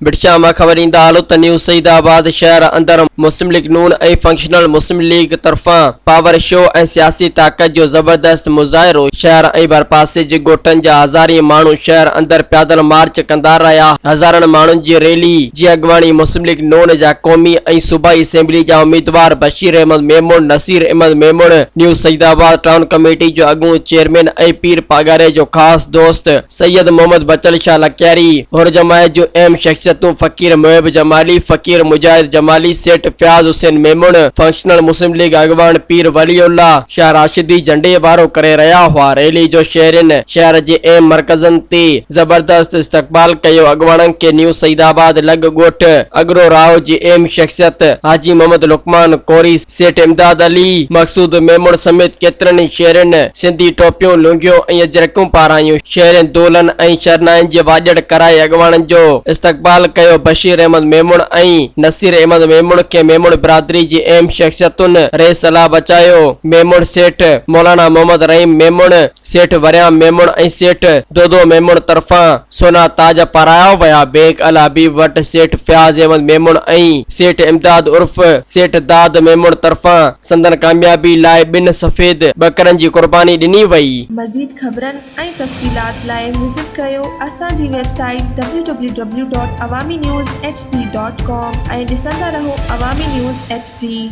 بٽشاهه مان خبر ايندا آهلو ته نيو سعيد آباد شهر اندر مسلم ليگ نون ۽ فنڪشنل مسلم ليگ طرفان پاور شو ۽ سياسي طاقت جو زبردست مظاهرو شهر ۽ ڀرپاسي جي ڳوٺن جا هزارين ماڻهو شهر اندر پيادل مارچ ڪندا رهيا هزارن ماڻهن جي ريلي جي اڳواڻي مسلم ليگ نون جا قومي ۽ صوبائي اسيمبلي جا اميدوار Bashir Ahmed Memon, Naseer Ahmed Memon, new Saeedabad town committee جو اڳوڻو چيئرمين ۽ پير پاڳاري جو خاص دوست سيد محمد بچل شاهه لڪياري، حر جماعت جون اهم شخصيتون فقير محب جمالي، فقير مجاهد جمالي، سيٺ فياض حسين ميمڻ، فنڪشنل مسلم ليگ اڳواڻ پير ولي الله شاهه راشدي جهنڊي وارو ڪري رهيا هئا، ريلي جو شهرين شهر جي اهم مرڪزن تي. زبردست استقبال ڪيو اڳواڻن کي نيو سعيد آباد لڳ ڳوٺ اڳرو راء جي اهم شخصيت حاجي محمد لقمان ڪوري، سيٺ امداد علي، مقصود ميمڻ سميت ڪيترن ئي شهرين سنڌي ٽوپيون، لونگيون ۽ اجرڪون پارايون، شهرين دولن ۽ شرنائين جي واڄڙ ڪرائي اڳواڻن جو استقبال ڪيو بشير احمد ميمڻ ۽ نصير احمد ميمڻ کي ميمڻ برادري جي اهم شخصيتن ريس لا بچايو ميمڻ سيٺ مولانا محمد رحيم ميمڻ، سيٺ وريام ميمڻ ۽ سيٺ دودو ميمڻ طرفان سونا تاج پارايا ويا. بينڪ الحبيب وٽ سيٺ فياض احمد ميمڻ ۽ سيٺ امداد عرف سيٺ داد ميمڻ طرفان سندن ڪاميابي لاء ٻن سفيد ٻڪرن جي قرباني ڏني وئي. مزيد خبرن ۽ تفصيلات لاء وزٽ ڪريو اسان جي website W W W dot Awami news H D dot com ۽ ڏسندا رهو عوامي نيوز ايڇ ڊي.